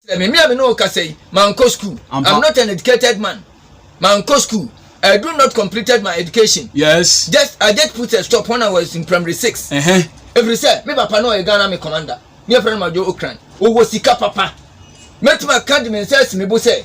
Me me a me ne wo kasa yi, mankɔ school. Ampa. I'm not an educated man. Mankɔ school. I do not completed my education. Yes. Just I just put a stop when I was in primary six. Uh-huh. Efiri sɛ me papa no ɔyɛ Ghana me commander. Ne yɛfrɛ no Majo Okran. Ɔwɔ sika papa. Mɛtumi aka de me nsa asi me bo sɛ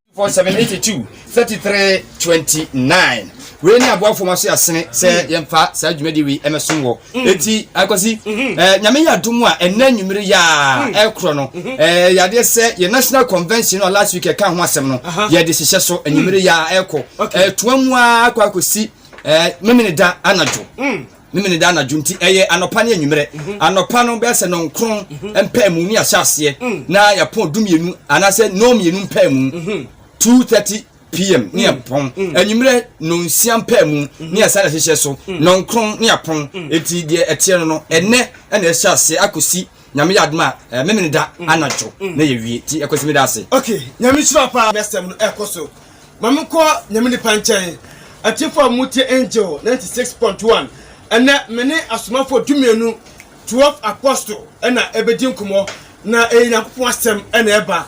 Mpanyimfoɔ 782 33 29 Wei ne aboafoɔ ma so yɛ asene sɛ mm. yɛmfa saa dwumadie wei ɛmɛsom wɔ mm. ɛti akɔsi mm-hmm. eh, nyame yɛ adom a ɛnɛ anwummere yɛ a mm. ɛkorɔ no mm-hmm. eh, yadeɛ sɛ yɛ national convention no a last week ɛka ho asɛm no yɛde hyehyɛ so anwummere yɛ a ɛkɔ ɛtoa eh, mu a akɔ akɔsi memene da anadwo Memene da anadwo nti ɛyɛ anɔpa ne anwummerɛ. Mhm. Anɔpa no bɛyɛ sɛ nɔnkron mhm. mpaamu ne ahyɛ aseɛ mm. na yɛpɔn du mmienu anaasɛ nɔn mmienu mpaamu mhm. two thirty pm ne mm. yɛpɔn mm. anwummerɛ nonsia mpaamu ne yɛsan ahyehyɛ so nɔnkron ne yɛpɔn eti deɛ ɛteɛ no no ɛnɛ ɛna ɛhyɛ aseɛ akɔsi nyame yɛ adoma a eh, memene da anadwo na yɛwie ti ɛkɔsi me da ase. ok nyame nhyira paa next time no ɛkɔ so. Ma menkɔ Nyame nipa nkyɛn, atiefo a motie Angel ninety six point one. Ɛnnɛ me ne asomafoɔ dumienu, twelve apostle, ɛna ɛbɛdi nkɔmɔ na ɛyɛ Nyankopɔn asɛm ɛna ɛba.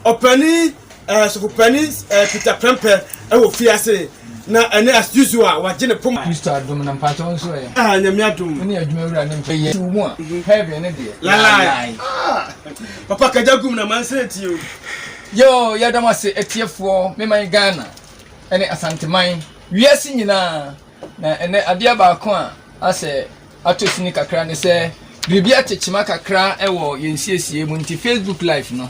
Ɔpani ɛɛ sɔfopani ɛɛ Peter Prempeh ɛwɔ fie ase na ɛnɛ as usual wagye ne poma. Kristo adom na mpakyɛw nso ɛ. Ah Nyame adom. Wone adwuma awura ne mfe yɛ. Tiw mu a, heaven no deɛ, lae lae. Ah! Papa kagya gum na mansere nti o. Yoo yɛda mo ase atiefoɔ me man Ghana ne Asanteman wiase nyinaa na ɛnɛ adeɛ baako a asɛ atɔ sini kakra ne sɛ biribi ate kyema kakra wɔ yɛn siesie mu nti Facebook live no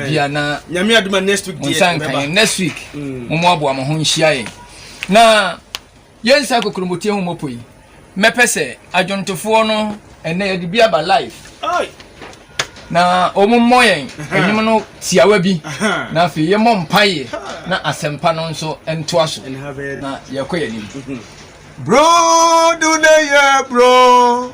bia na nyame adoma next week mo nsa nka yɛn next week mm. mo mo aboa mo ho nhyia yɛn na Yɛn saa kokuromotee ho mɔpɔ yi mɛpɛ sɛ adwontofoɔ no ɛnɛ yɛde bi aba live na wɔn mmɔ yɛn ɛnwom no tiawa bi na afei yɛ mɔ mpaeɛ na asɛmpa no nso ntoa so na yɛkɔ yɛn anim. Bro do ne yɛ bro.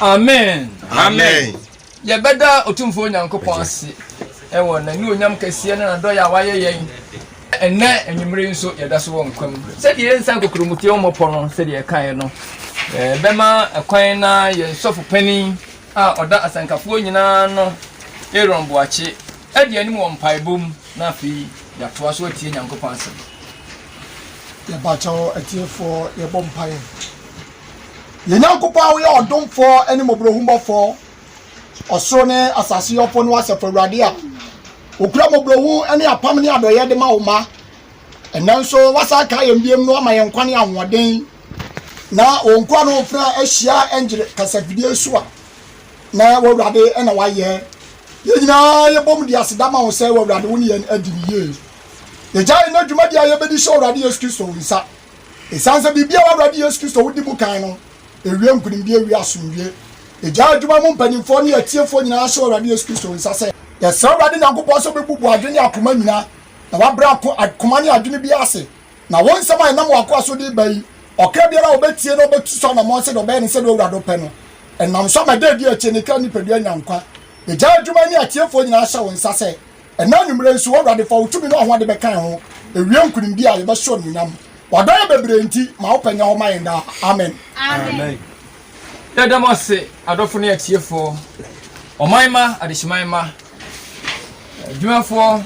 amen amen yɛbɛda otumfoɔ nyankopɔn ase ɛwɔ n'anuonyam kɛseɛ ne nadɔyɛ a wayɛ yɛn ɛnɛ anwummere nso yɛda so wɔ nkwa mu sɛdeɛ yɛnsa nkokuromutiɛ wɔ mmɔpɔ no sɛdeɛ ɛkaeɛ no bɛma ɛkwan na yɛn sɔfo panin a ɔda asɛnkafoɔ nyinaa no aaron boakye adi anim wɔ mpaebɔ mu Na afei yɛatoa so atie Nyankopɔn asɛm. Yɛbakyɛw atiefoɔ, yɛbɔ mpaeɛ. Yɛn Nyankopɔn a woyɛ ɔdomfoɔ ne mmɔborɔhunbɔfoɔ, ɔsoro ne asase yɔfo ne w'Asafo Awurade a wokura mmɔborɔhu ne apam ne adɔeɛ de ma wo mma. Ɛnnɛ nso woasan akaa yɛn biam na woama yɛn nkwa ne ahoɔden. Na wo nkoa no mfena ahyia ɛngyere kasafidie so a. Na w'Awurade na wayɛ. Yɛn nyinaa yɛbom de aseda ma wo sɛ w'Awurade wo ne yɛn adi no yie. Yɛgyae nnɛ dwumadi a yɛbɛdi hyɛ Awurade Yesu Kristo wo nsa. Ɛsiane sɛ biribi a w'Awurade Yesu Kristo wo di mu kan no, ɛwie nkonimdie ɛwie asomdwie. Yɛgyae adwuma mu mpanimfoɔ ne atiefoɔ nyinaa hyɛ w'Awurade Yesu Kristo wo nsa sɛ. Yɛsrɛ Awurade Nyankopɔn sɛ ɔbɛbubu adwene ne akoma nyinaa, na wabrɛ ako koma ne adwene biara ase Na wɔn nsɛm a ɛnam wɔn akoa so de reba yi, ɔkra biara a ɔbɛtie na ɔbɛtu so anammɔn sɛdeɛ ɔbɛyɛ no sɛdeɛ Awurade pɛ no, ɛnam so ama da a ɛdi akyire no ne kra nipadua anya nkwa. Egyae adwuma yi ne atiefoɔ nyinaa hyɛ wo nsa sɛ, ɛnnɛ anwummerɛ nso, O Awurade, fa wo tumi ne w'ahoɔde bɛka yɛn ho, ɛwie nkonimdie a, yɛbɛhyɛ wo animuonyam. W'adɔeɛ bebree nti, ma wo pɛ nyɛ hɔ ma yɛn daa. Amen. Amen. Yɛda mo ase, adɔfo ne atiefoɔ, ɔman mma, adehyeman mma, adwumafoɔ,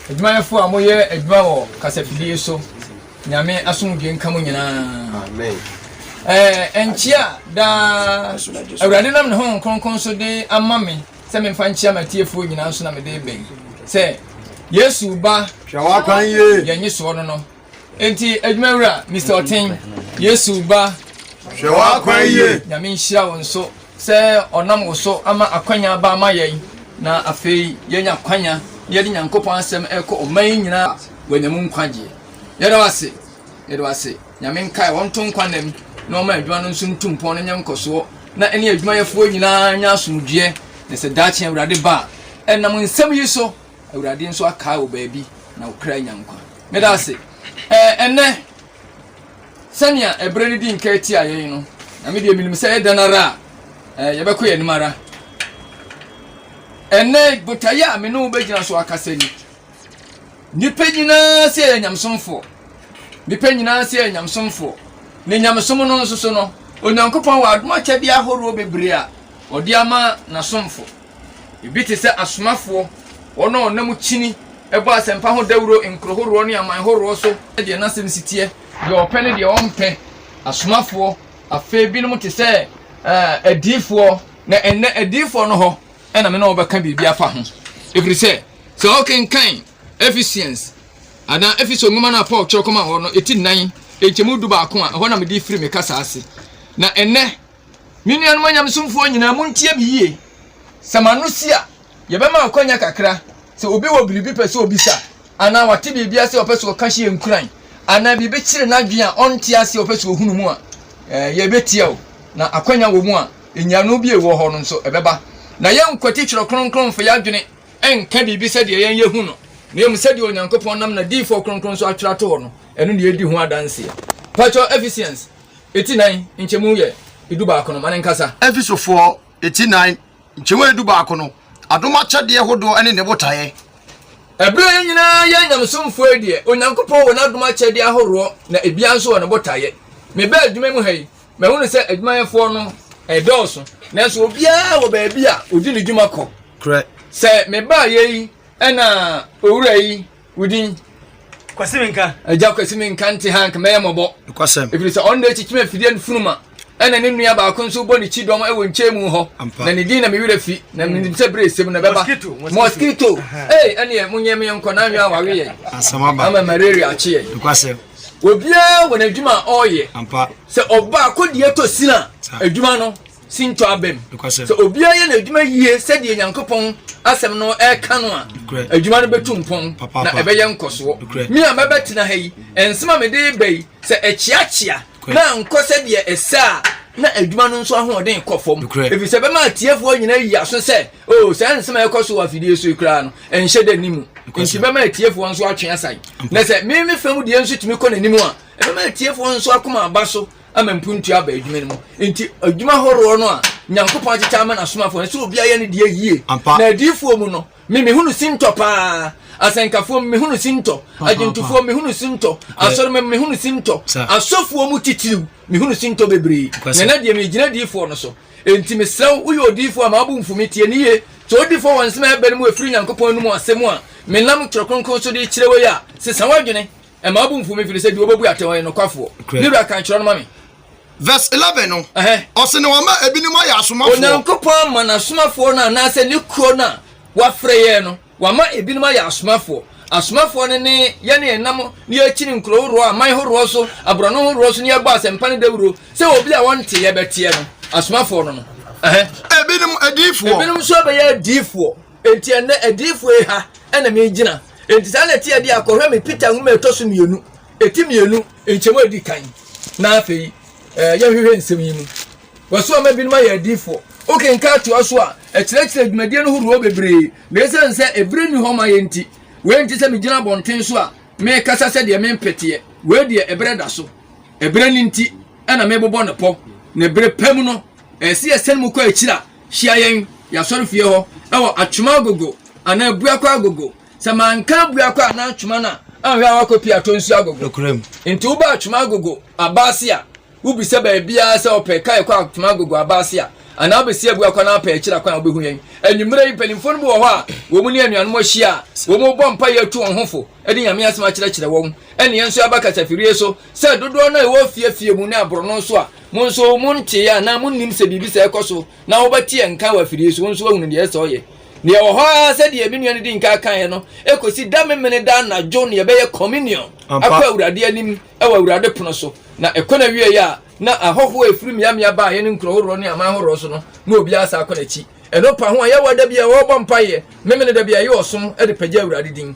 adwumayɛfoɔ a moyɛ adwuma wɔ kasafidie so. Nyame asomdwe nka mo nyinaa. Amen. Ɛɛ nkyia daa Awurade nam ne ho nkronkron so de ama me sɛ memfa nkyia m'atiefoɔ nyinaa nso na mede bɛn sɛ Yesu ba yɛnye soɔ no no Enti adwumawura Mister Ɔten, Yesu ba. Hwɛ w'akwan yie. Nyame nhyira wo nso sɛ ɔnam wo so ama akwanya aba ama yɛn na afei yɛanya akwanya na yɛde Nyankopɔn asɛm ɛrekɔ ɔman yi nyinaa a wɔanya mu nkwagyeɛ. Yɛda wo ase. Yɛda wo ase. Nyame nkae wɔn nto nkwa nna mu na ɔma adwuma no nso ntu mpɔn na nya nkɔsoɔ na ɛne adwumayɛfoɔ nyinaa nya asomdwoeɛ na sɛ daakye Awurade ba a ɛnam nsɛm yi so awurade nso akaa wo baabi na wo kra nya nkwa meda ase ɛɛ ɛnɛ sɛnea ɛberɛ no di nka tia yɛn no na medeɛ menim sɛ ɛdɛn ara a ɛɛ yɛbɛkɔ yɛn anim ara ɛnɛ botaeɛ a me ne wo bɛgyina so akasa ni nipa nyinaa sɛ yɛ nyamsomfoɔ nipa nyinaa sɛ yɛ nyamsomfoɔ ne nyamesom no nso so no onyankopɔn wɔ adom akyɛdeɛ ahoroɔ bebree a ɔde ama n'asomfo Ebi te sɛ asomafoɔ, wɔn a wɔnam kyini bɔ asɛmpa ho dawuro nkuro horoɔ ne aman horoɔ so. Deɛ n'asɛm si teɛ, deɛ ɔpɛ ne deɛ ɔmpɛ. Asomafoɔ, afei binom te sɛ uh, adiifoɔ, na ɛnnɛ adiifoɔ no hɔ ɛna me na wɔbɛka biribi afa ho. Ɛfiri sɛ, sɛ ɔkenkan Ephesians anaa Efeso nwoma no a Paul kyerɛ kɔma hɔ no, ɛti nnan, nkyɛmu du baako a, ɛhɔ na mede firi me kasa ase. Na ɛnnɛ, Me nuanom anyamesomfoɔ nyinaa, montie me yie. Sɛ mo ano si a, yɛbɛma akwannya kakra, sɛ obi wɔ biribi pɛ sɛ ɔbisa, anaa ɔte biribi ase a ɔpɛ sɛ ɔka hyɛ yɛn nkuran, anaa biribi kyere n'adwene a ɔnte aseɛ a ɔpɛ sɛ ɔhunu mu a, ɛɛ, yɛbɛtie o, na akwannya wɔ mu a, nyiano bi a ɛwɔ hɔ no nso, ɛbɛba. Na yɛnkwati Twerɛ Kronkron mfa yɛn adwene nka biribi sɛdeɛ yɛn yɛhu no, na mmom sɛdeɛ Onyankopɔn nam n'adiyifoɔ kronkron so atwerɛ ato hɔ no, ɛno na yɛdi ho adanseɛ. Pakyɛ, Ephesians. eti nnan nkyɛmu yɛ edu baako no ma ne nkasa. Efesofoɔ eti nnan nkyɛmu yɛ edu baako no adom akyɛdeɛ hodoɔ ne ne botaeɛ. Ɛberɛ yɛn nyinaa yɛ nyamesomfoɔ yi deɛ, Onyankopɔn wɔ n'adom akyɛdeɛ ahoroɔ na ebiara nso wɔ ne botaeɛ. Mebaa adwuma mu ha yi, mahunu sɛ adwumayɛfoɔ no dɔɔso, nanso obiara wɔ baabi a ɔdi ne dwuma kɔ. Korɛ. Sɛ mebaeɛ yi na owura yi. Wo din? Kwasi Menka. Agya Kwasi Menka nte ha nka mɛyɛ mmɔbɔ. Nokwasɛm. Ɛfiri sɛ ɔno na ɛkyikyim afidie no funuma ɛna ne nua baako nso bɔ ne kyi dɔm wɔ nkyɛn mu hɔ na ne din na me werɛ fi na menim sɛ berɛ ɛsɛm na ɛbɛba mosquito ei ɛneɛ monyɛ me nkɔ na nwea wawe yɛ ama malaria akye yɛ obiara wɔ n'adwuma a ɔreyɛ sɛ ɔbaako deɛ tɔ sina adwuma no si ntɔ abam. Sɛ obiara yɛ n'adwuma yie sɛdeɛ Nyankopɔn asɛm no ɛka no a, adwuma no bɛtu mpɔn na ɛbɛyɛ nkɔsoɔ. Me a mɛbɛtena ha yi, nsɛm a mede reba yi, sɛ ɛkyeakyea na ankɔ sɛdeɛ ɛsɛ a, na adwuma no nso ahoɔden kɔ fam. Ɛfiri sɛ ɛbɛma atiefoɔ nyinaa ayi aso sɛ, o oh, saa nsɛm a ɛkɔ so wɔ afidie so yi koraa no, ɛnhyɛ da ni mu. Nti bɛma atiefoɔ nso atwe asan. Na sɛ me me fam deɛ nso tumi kɔ n'anim a, ɛbɛma atiefoɔ nso akoma aba so ama mpuntu aba adwuma no mu. Nti adwuma horoɔ no a Nyankopɔn akyekyɛ ama n'asomafoɔ no, sɛ obiara yɛ no deɛ yie. Ampa. Na adiyifoɔ mu no, me mehunu sintɔ paa. Asɛnkafoɔ mu, mehunu sintɔ. Agyentufoɔ mu, mehunu sintɔ. Asɔrema mu, mehunu sintɔ. Sir. Asɔfoɔ mu titiriw, mehunu sintɔ bebree. Ampa, sir. Na na deɛ megyina adiyifoɔ no so. Enti mesrɛ wo, woyɛ odiyifoɔ a mabo mfu me, tie no yie. Sɛ wodi fɔ wɔ nsɛm a ɛbɛn mu a ɛfiri Nyankopɔn anom asɛm a menam Twerɛ Kronkron so de rekyerɛ wo yi a, sesa w'adwene. Ɛma obu mfuw me fi no sɛ deɛ obebu atɛn ɔyɛ nokwafoɔ. Ne wura kan kyerɛ no ma me. Verse eleven no, ɔsi na wɔma ebinom ayɛ asomafoɔ. Onyankopɔn ama n'asomafoɔ no anaasɛ ne kuo no a wafrɛ yɛn no, wama ebinom ayɛ asomafoɔ. Asomafoɔ no ne yɛn a yɛnam ne yɛkyini nkuro horoɔ, aman horoɔ so, aborɔno horoɔ so ne yɛbɔ asɛmpa no dawuro sɛ obi a wɔnte yɛ bɛteɛ no. Asomafoɔ no no. Ebinom adiifoɔ. Ebinom nso bɛyɛ adiifoɔ. Enti ɛnɛ adiifoɔ yi ha ɛna megyina. Enti saa na ɛte ɛde a, kɔhwɛ me Peter nwoma a ɛtɔ so mmienu, ti mmienu, nkyɛmu a ɛdi kan. Na afei, eh, yɛnhwehwɛ nsɛm yi mu. Wɔso ama binom ayɛ adiifoɔ. Wokenka atoa so a, ɛkyerɛkyerɛ dwumadie no horoɔ bebree, na ɛsiane sɛ ɛberɛ nni hɔ ma yɛ nti, wei nte sɛ megyina abɔnten so a merekasa sɛdeɛ mempeteɛ. Wei deɛ ɛberɛ da so. Ɛberɛ no nti ɛna mebobɔ no pɔ, na ɛberɛ pa mu no, ɛsɛ yɛsɛne mu kɔ akyiri a Hyia yɛn yɛn asɔrefie hɔ wɔ Atwema Agogo anaa Abuakwa Agogo. Sɛ manka Abuakwa anaa Atwema no a, anhwɛ a woakɔ pii atɔ nsu agogo. Nokorɛm. Enti woba Atwema Agogo aba ase a, wobisa baabiara sɛ ɔpɛ kae kɔ Atwema Agogo aba ase a, anaa wobɛsi Abuakwa no apɛ akyiri akwan a wobɛhu yɛn. Anwummerɛ yi, mpanimfoɔ no bi wɔ hɔ a wɔn ne anuanom ahyia a, wɔbɔ mpaeɛ atu wɔn ho fo de Nyame asɛm akyerɛkyerɛ wɔn. Ɛnna yɛn nso yɛaba kasafidie so sɛ dodoɔ no a yɛwɔ afie afie mu ne aborɔno so a, Mo nso, montee anaa monnim sɛ biribi saa rekɔ so, na wobɛteɛ nka wɔ afidie so, wo nso woahunu deɛ ɛsɛ sɛ ɔyɛ? Na yɛwɔ hɔ ara sɛdeɛ me nua no dii nka kaeɛ no, kɔsi da Memeneda anadwo na yɛbɛyɛ Communion akɔ Awurade anim wɔ Awurade pono so. Na ɛkɔ no awieeɛ a, na ahɔhoɔ a ɛfiri mmeammea baeɛ ne nkuro horoɔ ne aman horoɔ so no, na obiara san kɔ n'akyi. Ɛno pa ho a, yɛwɔ da bi a wɔbɔ mpaeɛ Memeneda bi a yɛyɛ ɔsom de pagya Awurade din.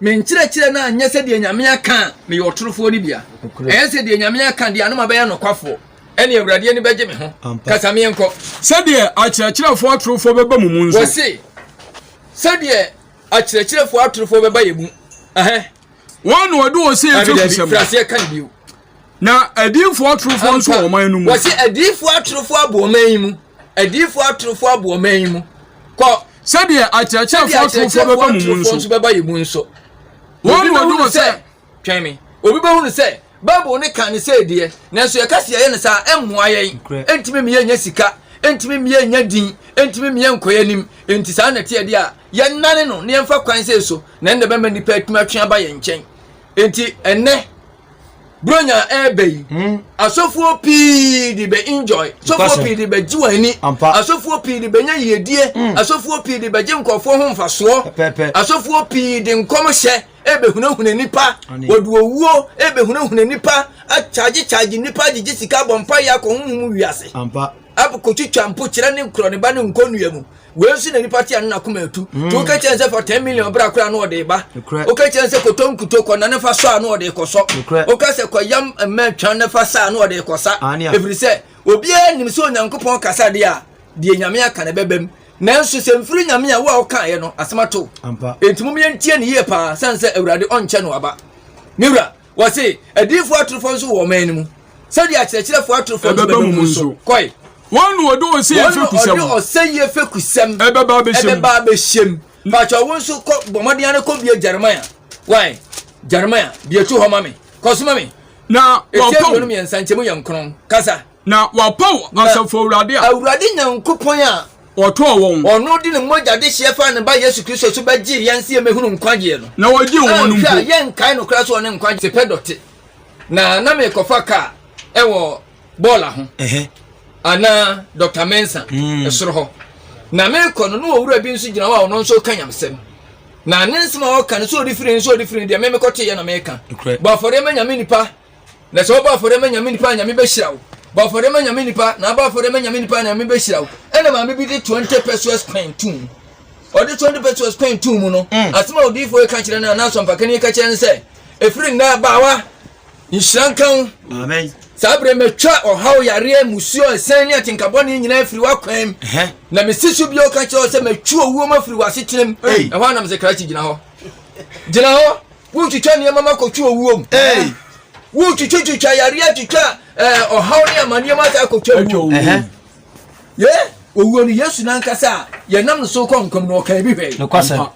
Me nkyerɛkyerɛ no anyɛ sɛ deɛ Nyame aka a, meyɛ ɔtorofoɔ no bia. Ɛyɛ sɛ deɛ Nyame aka deɛ ano ma bɛyɛ nokwafoɔ, ɛne Awurade ani bɛgye me ho. Kasa menkɔ. Sɛdeɛ akyerɛkyerɛfoɔ atorofoɔ bɛba mo mu nso. Wɔse, Sɛdeɛ akyerɛkyerɛfoɔ atorofoɔ bɛba yɛn mu. Ɛhɛ. Wɔn na wɔde ɔsɛeɛ firi kusɛm. Dabi, dabi, firi aseɛ ka no bio. na adiyifoɔ atorofoɔ nso wɔ ɔman no mu. wɔsi adiyifoɔ atorofoɔ abu ɔman yi mu adiyifoɔ atorofoɔ abu ɔman yi mu kɔ. sɛdeɛ akyerɛkyerɛfoɔ atorofoɔ bɛba mu mu nso bɛba yɛ mu nso. wɔn na ɔduru sɛ twɛn mi obi bɛhunu sɛ bible ne kan ne sɛ deɛ nanso yɛka si yɛyɛ no saa ɛmmoa yɛn ɛntumi mmea nya sika ɛntumi mmea nya din ɛntumi mmea nkɔ yɛn anim ɛnti saa na ɛteɛ deɛ a yɛnane no ne yɛmfa kwan sɛ so na ɛnna bɛma nnipa atumi atwe aba yɛn nkyɛn ɛnti ɛnɛ buronya ɛɛbɛ yi hmm. asɔfoɔ pii de bɛ enjoy asɔfoɔ pii de bɛ gye wɔn ani asɔfoɔ pii de bɛ nya yiedie hmm. asɔfoɔ pii de bɛ gye nkurɔfoɔ ho nfasoɔ asɔfoɔ pii de nkɔm hyɛ ɛbɛhunahuna nipa wɔde owuo ɛbɛhunahuna nipa akyagyekyagye nipa gyegye sika bɔ mpa yɛ akɔ honhom wiase Ab kotwitwa mpo kyerɛ ne korɔ ne ba ne nkonnua mu. Wei nso na nipa te ano na koma atu. Mm. To woka kyerɛ sɛ fa ten million bra koraa na ɔde ba. Woka kyerɛ sɛ kɔtɔ nkuto kɔ na ne fa sɔ a na ɔde kɔ sɔ. Woka sɛ kɔ yam mmɛ twɛn ne fa sa a na ɔde kɔ sa. Ɛfiri sɛ obiara nim sɛ Onyankopɔn kasa deɛ a deɛ Nyame aka na ɛbɛba mu. Nanso sɛ mfiri Nyame a wo a wokaeɛ no asɛm ato. Enti mom yɛntie ne yie paa sane sɛ Awurade ɔnkyɛ no aba. Me wura. Wɔse adiyifo atorofo nso wɔ ɔman no mu, sɛdeɛ akyerɛkyerɛfo atorofo nso bɛba mu nso. Kɔe. Wɔn na wɔde ɔsɛyie fɛkusɛm. Wɔn na wɔde ɔsɛyie fɛkusɛm. Ɛbɛba abɛhyɛm. Ɛbɛba abɛhyɛm. Pakyɛ ɔwo nso kɔ bɔmmɔden ara kɔ bie Jeremiah. Wae Jeremiah bie to hɔ ma me. Kɔ so ma me. Na wɔpɔn. Ɛtiɛ mmienu mmiɛnsa nkyɛmu yɛ nkron. Kasa. Na wɔapaw Asafo Awurade a. Awurade Nyankopɔn a. Ɔtɔɔ wɔn. Ɔno de ne mogya dehyeɛ faa ne Ba Yesu Kristo so bɛgyee yɛn sɛ yɛmmɛhunu nkwagyeɛ no. Na ɔgyee wɔn mpo. Anhwɛ a, yɛnkae no koraa sɛ ɔne nkwagyeɛ. Te pɛ dɔte. Na na merekɔfa kaa ɛwɔ bɔɔla ho. Anaa Dɔkta Mensa ɛsoro hɔ. Na merekɔ no, na ɔwura bi nso gyina hɔ a ɔno nso reka nyamsɛm. Na ne nsɛm a ɔreka no, sɛ ɔde firi he, sɛ ɔde firi he deɛ, me mekɔteeɛ na mereka. Bɔ afɔreɛ ma Nyame nnipa. Na sɛ wobɔ afɔre ma nyame nipa a nyame bɛhyira wo. Bɔ afɔre ma nyame nipa na abɔ afɔre ma nyame nipa a nyame bɛhyira wo. Ɛna maame bi de 20 pesos pɛn tum mu. Ɔde 20 pesos pɛn tum mu no, mm. asɛm a odiyifoɔ yi ka kyerɛ no a na asɔmpakani yi ka kyerɛ no sɛ, ɛfiri nnɛ abaawa, nhyira nka wo. saa berɛ matwa ɔhaw yareɛ musuo ɛsɛn ne atenkabɔne nyinaa afiri w'akwan mu na mesi so bio ka kyerɛ wo sɛ matwi owuo mu afiri w'asetenam ɛhɔ a nam sɛ krakye gyina hɔ gyina hɔ Wotwitwa nneɛma ma kɔto owuo mu. Wotwitwitwitwa yareɛ twitwa eh, ɔhaw ne amanneɛ ma saa kɔto owuo mu. Ye owuo no Yesu nankasa a yɛnam no so kɔ nkɔm no ɔka ebi hwɛe.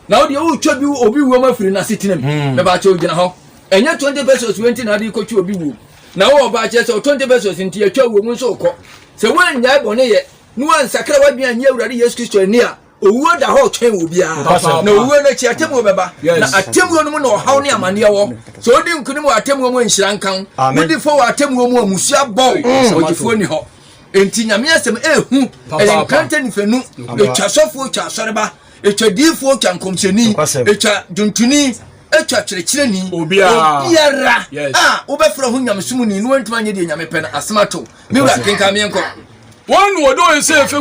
Na wodeɛ wotwa bi obi wuo ma firi n'asetena mu. Hmm. Mebaakyɛ ogyina hɔ. Ɛnyɛ 20 pesos wei nti na ade kɔtwa obi wuo. Na wowɔ baakyɛ sɛ 20 pesos nti yɛtwa wuo mu nso wokɔ. Sɛ woannyae bɔne yɛ na woansakra w'adwene anyi Awurade Yesu Kristo ani a, Owuo da hɔ retwɛn obiara, na owuo no akyi atemmuo bɛba, na atemmuo no mu na ɔhaw ne amaneɛ wɔ. Sɛ wodi nkonim wɔ atemmuo mu a, nhyira nka wo. Wodi fɔ wɔ atemmuo mu a, mmusua bɔ wo, mm. ogyefoɔ nni hɔ. Enti Nyame asɛm ɛhu, ɛyɛ nkrantɛ nifanu, ɛtwa asɔfoɔ, ɛtwa asɔreba, ɛtwa diifoɔ, ɛtwa nkɔmhyɛni, ɛtwa dwontoni, ɛtwa kyerɛkyerɛni, obiara a wobɛfrɛ ho nyamesomuni na wantumi anyɛ deɛ Nyame pɛ no, asɛm ato. Me wura kenkan meɛnkɔ.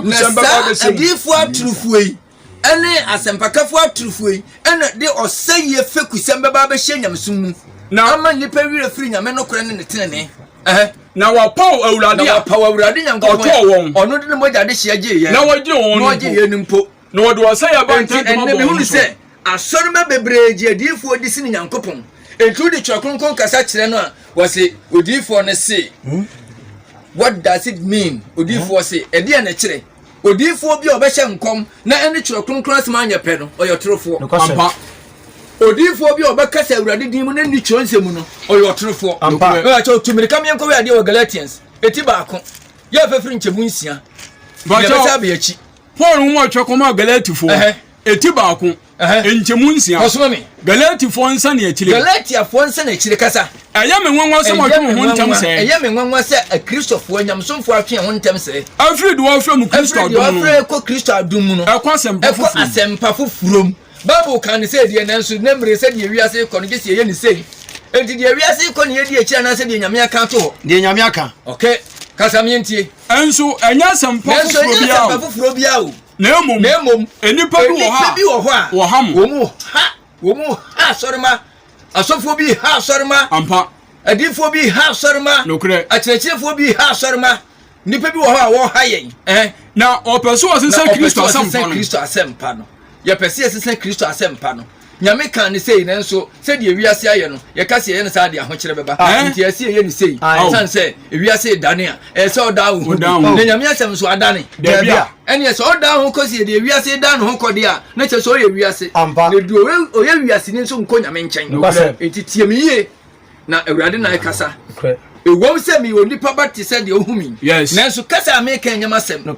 na saa adiyifoɔ atorofoɔ yi ɛne asɛmpakafoɔ atorofoɔ yi ɛna de ɔsɛeɛ fekusɛm bɛba abɛhyɛ nyamesom mu na ama nnipa werɛ firi nyame nokorɛ ne ne tenene na wɔpaw awurade a wɔpaw awurade nyankopɔn wɔn ɔno de ne mogya de hyia gye yɛn na wɔgye wɔn na wɔgye yɛn mpo na wɔde ɔsɛeɛ ba nti ɛnɛ mehunu sɛ Asɔrmba beberee gye ediyifoɔ di sene Nyankopɔn. Enti wode Twerɛ Kronkron kasa kyerɛ no a, wɔse, Odiyifoɔ no se. What does it mean? Odiyifoɔ se, Ɛdeɛn na ɛkyerɛ? Odiyifoɔ bi a ɔbɛhyɛ nkɔm na ɛne Twerɛ Kronkron asɛm anyɛ pɛ no, ɔyɛ ɔtorofoɔ. Ampa. Odiyifoɔ bi a ɔbɛkasa Awurade din mu na ɛnni Twerɛnsɛm mu no, ɔyɛ ɔtorofoɔ. Ampa. Mepakyɛw, tu mmirika ma yɛnkɔhwɛ adeɛ wɔ Galatians, eti baako, yɛn fafiri nkyɛmu nsia. Mepakyɛw. Yɛbɛsan aba yɛn akyi. Paul nwoma a ɔtwerɛ kɔmaa Galatifoɔ, eti baako, nkyɛmu nsia. Galatifoɔ nsɛnniakyire. Galatiafoɔ nsɛnniakyire kasa. Ɛyɛ me nwanwa sɛ wɔatwe mo ho ntɛm sɛɛ. Ɛyɛ me nwanwa sɛ Akristofoɔ nyamesomfoɔ atwe ho ntɛm sɛɛ. Afiri deɛ wɔfrɛ mu Kristo adom no. Afiri deɛ wɔfrɛ kɔ Kristo adom mu no. Ɛkɔ asɛmpa foforɔ. Ɛkɔ asɛmpa foforɔ mu. Bible kan ne sɛ deɛ nanso ne mmere sɛ deɛ wiase rekɔ no gye sɛ yɛyɛ ne sei. Enti deɛ wiase rekɔ ne yɛdi akyiri anaasɛ deɛ Nyame aka ato hɔ. Deɛ Nyame aka. Okay. Kasa meɛntie. Nanso ɛnyɛ asɛmpa foforɔ biara o, na mmom nnipa bi wɔ hɔ a wɔha mo. Wɔn ha asɔrema, asɔfoɔ bi ha asɔrema. Ampa. Adiifoɔ bi ha asɔrema. Nokorɛ. Akyerɛkyerɛfoɔ bi ha asɔrema. Nnipa bi wɔ hɔ a wɔha yɛn. Eh? Na wɔpɛ so wɔsesa Kristo asɛmpa no. Na wɔpɛ so wɔsesa Kristo asɛmpa no. Yɛpɛ sɛ yɛsesa Kristo asɛmpa no. Nyame kaa no sei, nanso sɛdeɛ wiase ayɛ no, yɛka sɛ yɛyɛ no saa de ahokyerɛ bɛba. Nti ɛyɛ sɛ yɛyɛ no sei, ɛsiane sɛ wiase redane a, ɛyɛ sɛ ɔda wo ho bi. Na Nyame asɛm nso adane? Daabi. Ɛneɛ sɛ ɔda wo ho kɔ sɛ deɛ wiase dan ne ho kɔ deɛ a, na kyerɛ sɛ ɔyɛ wiase. Na deɛ ɔyɛ wiaseni nso nkɔ Nyame nkyɛn. Nti tie me yie, na Awurade na ɛkasa. Ɛwom sɛ meyɛ onipa ba te sɛ deɛ wohu me yi, nanso kasa a meka nyɛ m'asɛm.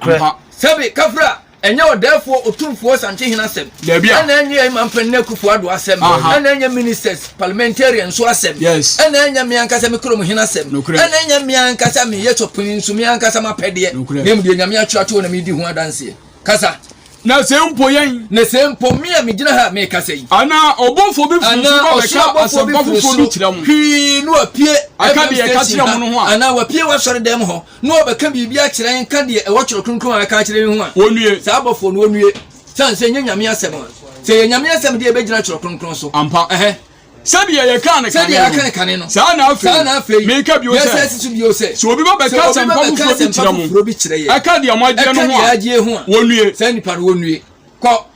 Sɛbe kafra Ɛnyɛ Ɔdɛɛfoɔ Otumfoɔ Santehin asɛm. Dabi a. Ɛna ɛnyɛ Imam Panin Akuffo Addo asɛm. Aha. Ɛna ɛnyɛ Ministers, Parliamentarians nso asɛm. Yes. Ɛna ɛnyɛ me ankasa me kurom hene asɛm. Nokorɛ. Ɛna ɛnyɛ me ankasa me yɛ Chopin nso me ankasa m'apɛdeɛ. Nokorɛ. Na mmom deɛ Nyame atwerɛ ato hɔ na meredi ho adanseɛ. Kasa. Na sɛ mpo yɛn. Na sɛ mpo me a megyina ha a merekasa yi. Anaa ɔbɔfoɔ bi firi soro ba bɛka asɛmpa foforɔ bi kyerɛ mo. Hwii na wapue. Aka deɛ ɛka kyerɛ mo no ho a. Anaa wapue w'asɔredɛm hɔ. Na wɔbɛka biribi akyerɛ yɛn, ka deɛ ɛwɔ Twerɛ Kronkron a ɛka akyerɛ yɛn ho a, wɔnnue. Saa abɔfoɔ no, wɔnnue, sane sɛ ɛnyɛ Nyame asɛm a. Sɛ ɛyɛ Nyame asɛm deɛ, ɛbɛgyina Twerɛ Kronkron so. Ampa. Ɛhɛ. Sɛdeɛ yɛkaa no kane no, yɛaka no kane no, saa na afei, saa na afei, meka bio sɛ, yɛsan si so bio sɛ, sɛ obi ba bɛka asɛmpa foforɔ bi kyerɛ mo, ɛka deɛ moagyeɛ no ho a, wɔnnue. Saa nipa no, wɔnnue. Kɔ.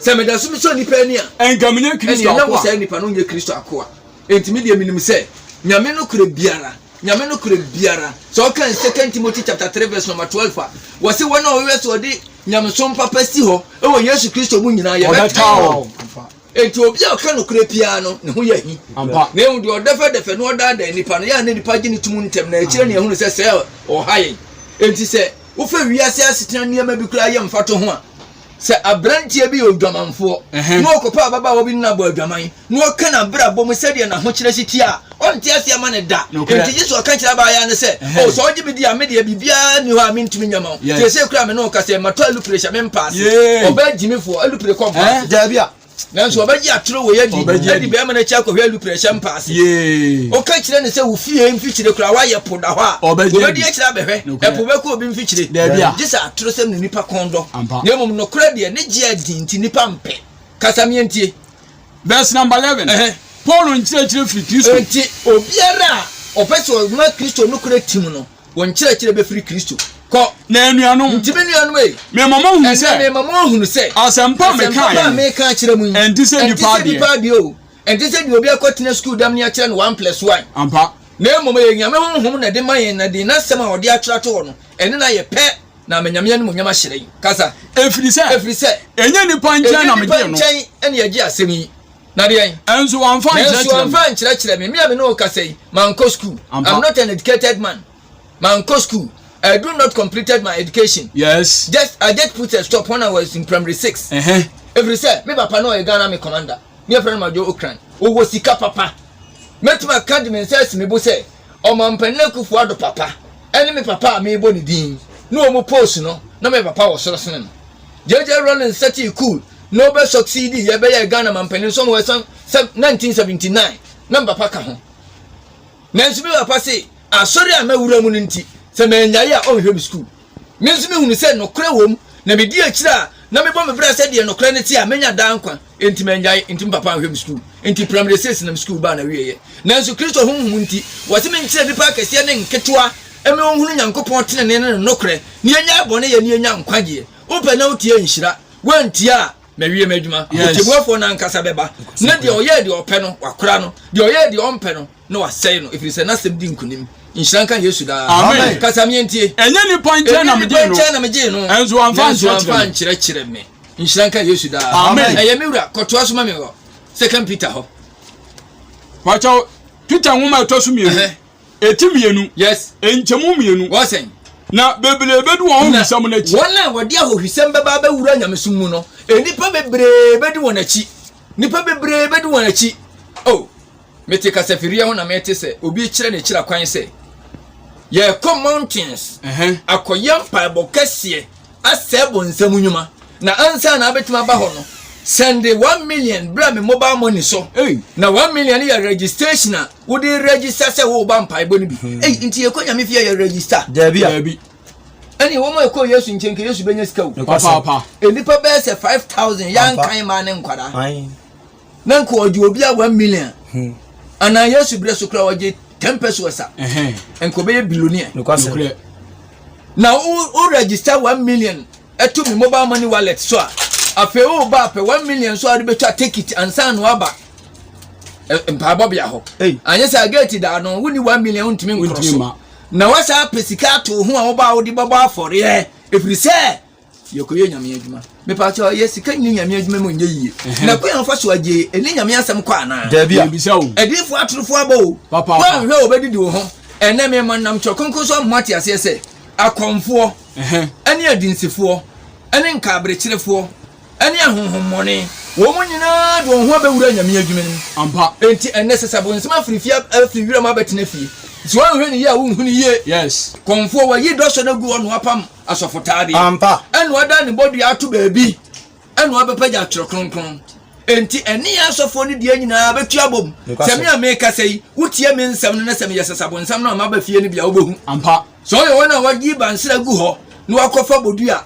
Sɛ meda so mesɔ nnipa ani a, ɛnka menyɛ Kristo akoa. Ɛnna wɔ saa nnipa no nyɛ Kristo akoa. Enti me deɛ menim sɛ Nyame no korɛ biara, Nyame no korɛ biara. Sɛ ɔka Second Timothy chapter 3 verse number 12 a, wɔse wɔn a wɔyɛ sɛ wɔde nyamesom papa si hɔ wɔ Yesu Kristo mu nyinaa yɛbɛtaa wɔn. Enti obi a ɔka nokorɛ piaa no, ne ho yɛ ahi. Na ehu deɛ ɔdɛfɛdɛfɛ na ɔdaadaa nnipa no, yɛ a na nnipa gye ne tom ntɛm, na akyire ne yɛhunu sɛ sɛɛ ɔha yɛn. Enti sɛ wofa wiase asetena nneɛma bi koraa yɛ mfatoho a, Sɛ aberanteɛ bi yɛ odwamanfoɔ na ɔkɔpɛ ababaawa bi ne no abɔ adwaman na ɔka n'abrabɔ mu sɛdeɛ n'ahokyerɛ si teɛ a, ɔnte aseɛ mma no da. Enti Yesu aka akyerɛ abaayaa no sɛ, O, sɛ wogye me di a, me deɛ, biribiara nni hɔ a mentumi nyɛ mma wo. Seesei koraa a me ne wo rekasa yi, matɔ Eluprek hyɛ me mpaase. Ɔbaa gyimifoɔ, Eluprek kɔ mpaase. Dabi a, nanso ɔbɛgye atoro wei adi ɛde bɛrima no akyi akɔhwɛ alupere hyɛ mpa ase ɔka kyerɛ no sɛ wo fie mfikyire koraa woayɛ po da hɔ a wɔbɛdi akyerɛ abɛhwɛ ɛpo bɛkɔ obi mfikyire gye sɛ atoro sɛm ne nipa kɔn dɔ na mmom nokorɛ deɛ ne gye adi nti nipa mpɛ kasa meɛntie verse number 11 paul nkyerɛkyerɛ firi kristo nti obiara a ɔpɛ sɛ ɔma kristo nokorɛ tim no Wɔn nkyerɛkyerɛ bɛfiri Kristo kɔ. Na anuanom, Nti me nuanom ei, mema moahunu ɛnnɛ sɛ mema moahunu sɛ asɛmpa a asɛmpa mekaeɛ pa a yi mereka akyerɛ mo yi ɛnte sɛ ɛnte nnipa sɛ adeɛ. nnipa adeɛ o, ɛnte sɛ deɛ obi akɔtena sukuu dam ne akyerɛ no one plus one, Ampa. na mmom ɛyɛ Nyame Honhom na ɛde ma yɛn, na deɛ N'asɛm a ɔde atwerɛ ato hɔ no, ɛne no ayɛ pɛ, na ama Nyame animuonyam ahyerɛn. Kasa. Ɛfiri sɛ, Ɛfiri sɛ, ɛnyɛ nnipa nkyɛn ɛnyɛ na nnipa megye no. nkyɛn na yɛgye asɛm yi. Na deɛn? Nanso wamfa ankyerɛkyerɛ me. Nanso wamfa ankyerɛkyerɛ me. Me a me ne wo kasa yi, mankɔ sukuu. I'm not an educated man. Mankɔ sukuu. I do not completed my education. Yes. Just I just put a stop when I was in primary six. Uh-huh. Ɛfiri sɛ me papa no ɔyɛ Ghana me commander. Me yɛfrɛ no Madwo Okran. Ɔwɔ sika papa. Mɛtumi aka de me nsa asi me bo sɛ ɔmampanin Akufo Addo papa ɛne me papa a merebɔ ne din ne wɔn post no na me papa wɔ soro sene no. JJ Rawlings Sati Cool Nobel succeedee yɛ bɛyɛɛ Ghana mampanin nso ma wɔsan sɛ 1979 na me papa ka ho. Nanso me papa se asɔre a mawura mu no nti sɛ mannyae a ɔnhwɛ me sukuu. Me nso mehunu sɛ nokorɛ wom na medi akyire a na mebɔ me bra sɛ deɛ nokorɛ no te a mɛnya daa nkwa enti mannyae enti me papa anhwɛ me sukuu enti primary six na me sukuu baa n'awieɛ. Nanso Kristo Honhom nti wɔse menkyerɛ nnipa akɛseɛ ne nketewa ɛmɛ wɔnhunu Nyankopɔn tenenee ne ne nokorɛ na yɛnyae bɔne yɛ na yɛnya nkwagyeɛ. Wopɛ na wotie nhyira. wantie a na wiem adwuma ɔtibuafoɔ no ankasa bɛba na deɛ ɔyɛɛ deɛ ɔpɛ no wakora no deɛ ɔyɛɛ deɛ ɔmpɛ no na wasɛe no ɛfiri sɛ n'asɛm di nkonim nhyira nka yesu daa amen kasa meɛntie ɛnyɛ nipa nkyɛn na megye no na megye no ɛnso amfa nkyerɛkyerɛ me nhyira nka yesu daa amen ɛyɛ me wura kɔtoa so ma me hɔ second peter hɔ wakyɛw peter nwoma ɛtɔ so mmienu Eti mmienu. Yes. Nkyɛmu mmienu. Wɔsɛn. Na bebree bedi wɔn ahohwisɛm no akyi. Wɔn a wɔde ahohwisɛm bɛba abɛwura nyamesom mu no, nnipa bebree bedi wɔn akyi. Nnipa bebree bedi wɔn akyi. Oh, mete kasafiriɛ ho na mete sɛ obi rekyerɛ ne kyerɛ kwan sɛ yɛrekɔ mountains akɔyɛ mpaebɔ kɛseɛ asɛe bonsam nnwuma na ansa na abɛtumi aba hɔ no sɛnde one million bra me mobile money so na one million yɛ registration a wode register sɛ woba mpaebɔ no bi hmm. ei nti yɛkɔ nyame fie yɛ register daabi a ɛne wɔn a ɛkɔ yesu nkyɛn ka yesu bɛnya sika o nnipa bɛyɛ sɛ 5000 yɛankan ma ne nkwadaa na nka ɔgye obi a 1 million hmm. anaa yesu berɛ so kora ɔgye 10 pesos a nka ɔbɛyɛ billionaire na wo register 1 million ɛto me mobile money wallet so a afei woba apɛ 1 million so a wode bɛtwa ticket ansa na waba mpaebɔ bea hɔ anyɛ sɛ gate da no wonni one million wontumi nkoro so na wasan apɛ sika ato ho a wobaa wode bɛbɔ afɔreɛ ɛfiri sɛ yɛkɔyɛ nyame adwuma mepaakyɛ yɛ sika nyɛ nyame adwuma mu nyɛ yie na kwan afa so agye ɛne nyame asɛm kɔ anaa ɛdifo atorofo abɔ o woanhwɛ a wɔbɛdidi wo ho ɛnɛ mema nam kyerɛ kronkron so ama ate aseɛ sɛ akɔmfoɔ ɛne adinsifoɔ ɛne nkaaberekyerefoɔ ne ahonhommɔne. Wɔn nyinaa de wɔn ho abɛwura anyame adwuma mu. Ampa. Enti ɛnnɛ, sɛ sɛ abonsam afiri fie afi wiram abɛtena fie, sɛ woanhwɛ no yie a, wonhu no yie. Yes. Kɔmfoɔ, wayi dɔsɔ no agu hɔ na wapam asɔfotaadeɛ. Ampa. Ɛna wadan ne bɔdua ato baabi, ɛna wabɛpagya Twerɛ Kronkron. Enti ɛne yɛn asɔfoɔ no deɛ nyinaa bɛtu abom. Nokwa so. Sɛ me a merekasa yi, wotie me nsɛm no na sɛ meyɛ sɛ sɛ abonsam no amma aba fie no bi a, wobɛhu. Ampa. Sɛ ɔyɛ wɔn a wayi bansere agu hɔ na wakɔfa bodua.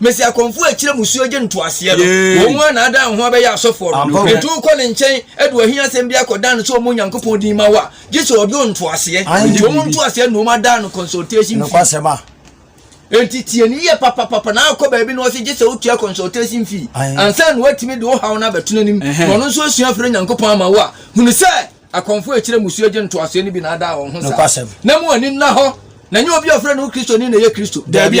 Mesia kɔmfoɔ a akyire musuo gye ntoaseɛ no, wɔn ara na ada ahoa bɛyɛ asɔfoɔ no. Enti wokɔ ne nkyɛn de w'ahiasɛm bi akɔdan no sɛ ɔmmɔ Onyankopɔn din ma wo a, gye sɛ ɔdɔ ntoaseɛ. Enti wɔn ntoaseɛ na wɔada no consultation fee. Enti tie no yie papapapa na akɔ baabi na wɔse gye sɛ wotua consultation fee ansa na wɔatumi de wo haw no abɛto n'anim na ɔno nso asua afiri Onyankopɔn ama wo a, hunu sɛ akɔmfoɔ a akyire musuo gye ntoaseɛ no bi na ada wɔn ho saa. Na mo ani nna hɔ. Na ɛnyɛ obi a wɔfrɛ ne ho Kristoni na ɛyɛ Kristo. Dabi.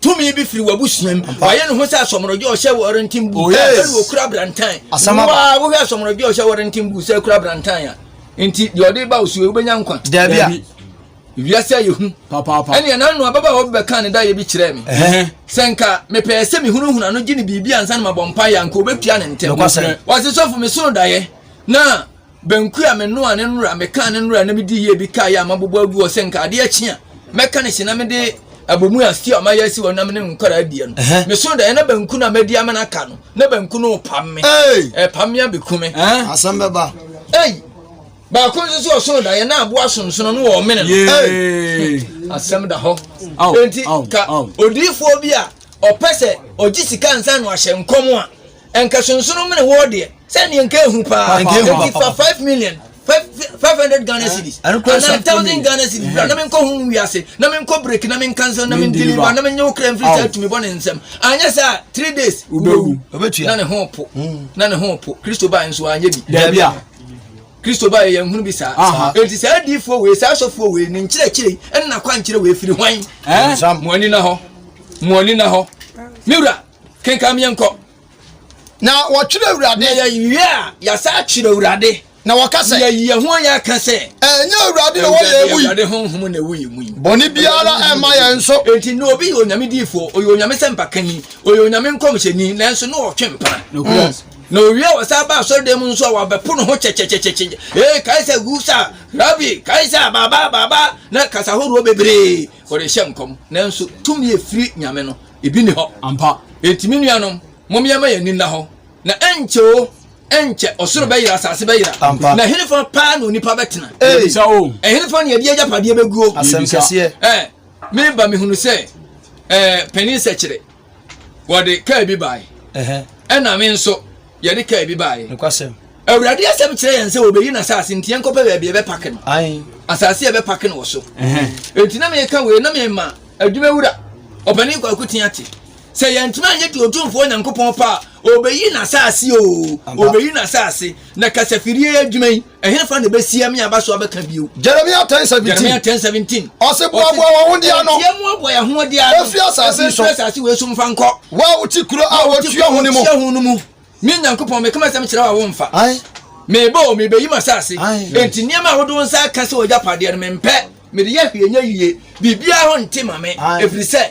tumi bi firi w'abusua mu wayɛ ne ho sɛ asɔmɔrɔdwe ɔhyɛ wɔrenten bu oh, ɛne okura brantan wowa wohwɛ asɔmɔrɔdwe ɔhyɛ wɔrenten bu sɛ kura brantan a nti deɛ ɔde ba osuo wobɛnya nkwa daabi a wiase ayɛ hu ɛne ɛna no ababa a wɔbɛka ne dayɛ bi kyerɛɛ me sɛ nka mepɛɛ sɛ mehunahuna no gye ne biribi ansa no mabɔ mpa yɛ anka wɔbɛtua ne ntɛm wɔse sɔfo mesono dayɛ na Banku a menoa ne nnora, mekaa ne nnora na medi yie bi kaeɛ a mabobɔ agu hɔ sɛ nka adeɛ akyi a mɛka ne hye na mede abomu a stew a mayɛ asi hɔ na me ne nkwadaa adie no meso daeɛ na banku no a madi ama no aka no na banku no repam me ɛpam me abɛku me asɛm bɛba ei baako nso so ɔsono daeɛ na aboa sonsono no wɔ ɔmene no asɛm da hɔ enti ka odiifoɔ bi a ɔpɛ sɛ ɔgye sika nsa no ahyɛ nkɔm a Nka sunsunu mene wɔ deɛ. Sɛ neɛ nka ehu paa. Eti fa five million five hundred Ghana cedis ana thousand Ghana cedis bra na me nkɔ hun wiase na me nkɔ break na me nkansa na me deliver na me nye wo kra mfiri saa tumi bɔ ne nsɛm anyɛ saa three days wobɛwu na ne ho po hmm. na ne ho po kristo baa nso anyɛ bi daabi a kristo baa yɛ yɛn hunu bi saa eti saa adiifoɔ wei saa asɔfoɔ wei ne nkyerɛkyerɛ ɛna kɔ ankyerɛ wei firi hwan mo ani na hɔ mo ani na hɔ miwura kenkan yɛn kɔ. Na wɔtwerɛ Awurade. Na yɛnwie a, yɛasa akyerɛ Awurade. Na wɔka sɛ. Yɛyi yɛn ho yɛ ka sɛ. Ɛnyɛ Awurade na ɔwɔ yɛn mu yi. Awurade honhom na ɛwɔ yɛn mu yi. Bɔne biara ɛmma yɛn nso. Enti na obi yɛ onyame diifoɔ, ɔyɛ onyame sɛmpakanyi, ɔyɛ onyame nkɔmhyɛni, nanso na ɔtwe mpena. Mm. Na owie a ɔsan ba asɔredan mu nso a wɔabɛpo ne ho kyɛkyɛkyɛkyɛkyɛ. Ee, Kaisa gu sa, Rabi, Kaisa, Baba, Baba, na kasa horoɔ bebree wɔde hyɛ nkɔm. Nanso tumi efiri Nyame no. ebi nni hɔ. Ampa. Enti me nuanom, mom yɛmma yɛn ani nna hɔ, na ɛnkyɛ oo, ɛnkyɛ, ɔsoro bɛyera, asase bɛyera, Ampa. na ɛhenefa paa na onipa bɛtena? Ei! Yɛbisa oo. Ɛhenefa na yɛde yɛn agyapadeɛ bɛguo? Asɛm Yɛbisa. kɛseɛ. Ɛ, meba mehunu sɛ ɛɛ, Panin Sɛkyerɛ, wɔde kaa bi bae, Ɛhɛ. ɛna me nso, yɛde kaa bi baeɛ. Nokwasɛm. Awurade asɛm kyerɛ yɛn sɛ wɔbɛyi n'asase nti yɛnkɔpɛ baabi yɛbɛpake no. Ae. Asase a yɛbɛpake no wɔ so. Enti na meka wei na mema adwumawura ɔpanin Kwaku Teate sɛ yɛntumi anyɛ deɛ Otumfoɔ Nyankopɔn pɛ a ɔbɛyi n'asase o, ɔbɛyi n'asase na kasafirie adwuma yi Ɛhefa na ɛbɛsia me aba so abɛka bio? Jeremia ten seventeen. Jeremia ten seventeen. Ɔsi boaboa wɔn ho di ano. Ɛtiɛ mu aboa yɛn ho di ano. Efi asase so. Efi asase wei so nfa nkɔ. Wo a wote kuro a wɔtua ho no mu. Wɔtua ho no mu. Me Nyankopɔn meka m'asɛm kyerɛ wo a womfa. Mebɔ o mebɛyi m'asase. Enti nneɛma a wode wo nsa aka sɛ wɔgya padeɛ no mempɛ. Mede yɛ hwee nyɛ yie. Biribiara ho nte ma me. Ɛfiri sɛ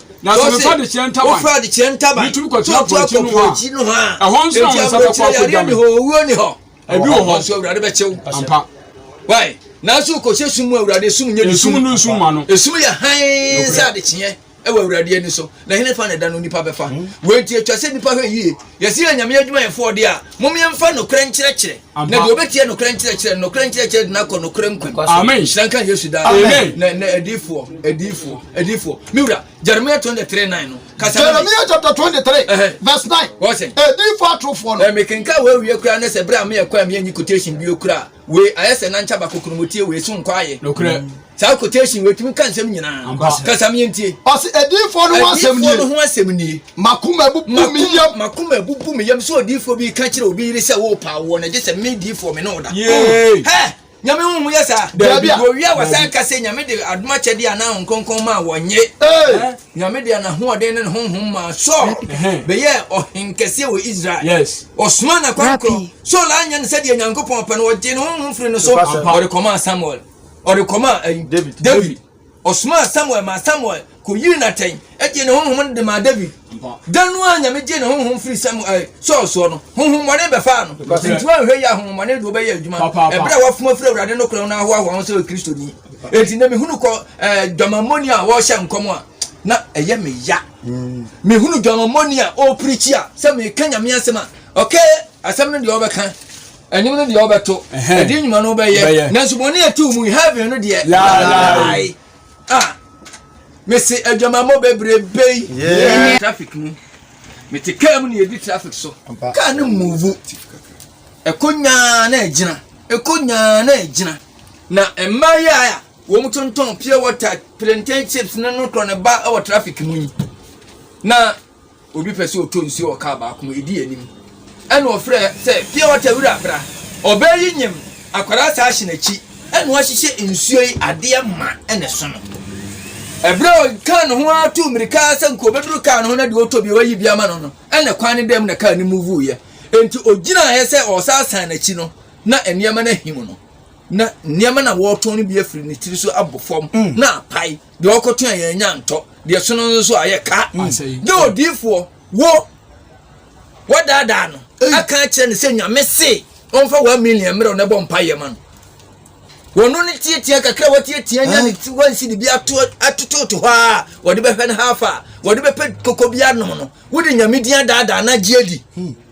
Na sɛ mefa adekyerɛ ntaban. Wofa adekyerɛ ntaban. Metumi kɔtena po akyi noho a. Akyi noho a. Ɛhɔ nso na wɔn nsa bɛkɔ akɔdwa me. Owuo ni hɔ. Ebi wɔ hɔ. Nso awurade bɛkyew. Ampa. Wai. Nanso kɔhyɛ sum mu awurade esum nyɛ ne sum. Esum no nsum ma no. Esum yɛ hann sɛ adekyeɛ ɛwɔ awurade ani so na hene fa na ɛda no nipa bɛfa. Wei nti atwa sɛ nipa hwɛ yie. Yɛsi yɛ nyame adwumayɛfoɔ de a mom yɛmfa nokorɛ nkyerɛkyerɛ. na deɛ ɔbɛtie nokorɛ nkyerɛkyerɛ no nokorɛ nkyerɛkyerɛ de no akɔ nokorɛ mu kwan amen hyira nka yesu daa amen na na adiifoɔ adiifoɔ adiifoɔ me wura jeremiah twenty three nine no kasa jeremiah chapter twenty three verse nine wɔsɛn adiifoɔ atorofoɔ no ɛmi kenka wɔ awie kura ne sɛ bere a meyɛ kɔ a meyɛ nyi quotation bio kura wei ayɛ sɛ nankyɛ baako kuromotie wei so nkɔ ayɛ nokorɛ saa quotation wei tumi ka nsɛm nyinaa kasa mi ntie ɔsi adiifoɔ no ho asɛm nie adiifoɔ no ho asɛm nie makoma abubu mi yam makoma abubu mi yam sɛ odiifoɔ bi ka kyerɛ obi yere sɛ wɔrepa awoɔ na gye sɛ me diifoɔ me ne wo da yee hɛ nyame ho ho yɛ saa dabi wɔwia wɔsan ka sɛ nyame de adom akyɛde a na nkonkɔn ma wɔnye nyame de anahoɔden ne ne honhom ma sɔɔ bɛyɛ ɔhenkɛseɛ wɔ israel ɔsoma na kwankorɔ sɔɔla anyɛ no sɛdeɛ nyankopɔn pɛ no ɔgye ne honhom firi no so ɔde kɔmaa samuel ɔde kɔmaa ayi David. David. Ɔsomaa Samuel maa Samuel kɔyiri no atɛn gyee ne honhom no de maa David. Da no ara Nyame gyee ne honhom firi Samuel, eh, Saul soɔ no, honhommɔne bɛfaa no. Nti woanhwɛ yi a honhommɔne de wobɛyɛ adwuma ɛberɛ a woafom afiri Awurade no korɔn no ahoahoa ho sɛ Kristoni. Enti na mehunu kɔ eh, dwamammɔni a wɔrehyɛ nkɔm a na ɛyɛ me ya. Mehunu dwamammɔni a ɔrepirikyi a sɛ meka Nyame asɛm a, okay, asɛm no deɛ ɔbɛka Anim no deɛ wobɛto. Ɛdeɛ nnwuma no wobɛyɛ. Nanso bɔne a ɛte wo mu yi, heaven no deɛ. Yaayae. Ah, mese adwamammɔ bebrebe yi. Traffic mu. Mete kaa mu na yɛdi traffic so. Kaa no mmuvu. Ɛkɔ nyaa na ɛgyina. Ɛkɔ nyaa na ɛgyina. Na mmaa yi a wɔn tontɔn pure water, plantain chips ne no korɔ ne ba wɔ traffic mu yi. Na Obi pɛ sɛ ɔtɔ nsuo wɔ kaa baako mu, ɛdi anim. Ɛna ɔfrɛ sɛ, pure water wura bra. Ɔbaa yi nyem, akwadaa saa hyɛ n'akyi. Ɛna wahyehyɛ nsuo yi adeɛ ma ɛna ɛsono. Ɛberɛ a ɔkaa ne ho ara tuu mmirika sɛ nka ɔbɛduru kaa no ho na deɛ ɔtɔ bia wayi bi ama no no, ɛna kwan no dam na kaa no mu vuiɛ. Enti ɔgyinaaɛ sɛ ɔresa asan n'akyi no, na nneɛma no ahim no. Na nneɛma na wɔretɔn no bi afiri ne tiri so abɔ fam na apae. deɛ ɔkɔto a yɛanya ntɔ deɛ sono no nso a yɛ ka dɛ odiyifoɔ wo wɔdaadaa no aka akyerɛ no sɛ nyame se ɔmfa wɔn million mmerɛw na ɛbɔ mpa yɛ ma no wɔno no tiatia kakra a wɔtiatia nya ne ti wɔnsi de bi ato atototo hɔ a wɔde bɛhwɛ no hafa a wɔde bɛpɛ koko bi anom no wode nyame din adaadaa no agye adi hmm.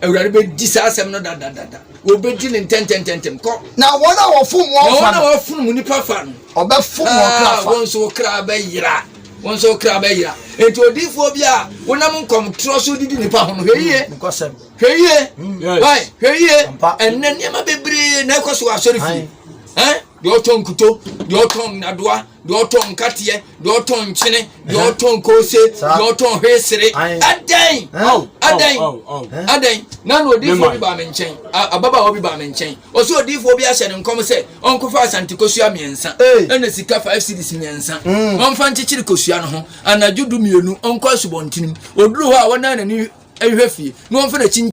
Awurade bɛdi saa asɛm no dadadada, wɔbɛdi ne ntɛntɛntɛntɛm kɔ. Na wɔn a wɔfom wɔn fa no. Na wɔn a wɔfom mu nipa fa no. Wɔbɛfom wɔn ah, kra fa. Wɔn nso wɔn kra bɛyera. Wɔn nso wɔn kra bɛyera. Enti odiifoɔ bi a wonam nkɔmtorɔ so didi nipa ho no, hwɛ yie. Hmm, hwɛ yie. Hmm, hwɛ yie. Ɛnna nneɛma bebree na ɛkɔ so wɔ asɔre fie. Deɛ ɔtɔn nkuto, deɛ ɔtɔn nnadoa. deɛ ɔtɔn nkateɛ deɛ ɔtɔn nkyene deɛ ɔtɔn kose deɛ ɔtɔn hwesere adɛn adɛn adɛn na na odiifoɔ bi baa me nkyɛn ababaawa bi baa me nkyɛn ɔsɛ odiifoɔ bi ahyɛ ne nkɔm sɛ ɔnkɔfa asante kosua mmiɛnsa ɛna sika five cities mmiɛnsa mm. ɔmfa nkyekyere kosua no ho anadwo du mmienu ɔnkɔ asubɔntenim ɔduru hɔ a wɔnan n'ani hwɛ fie na ɔmfa n'akyi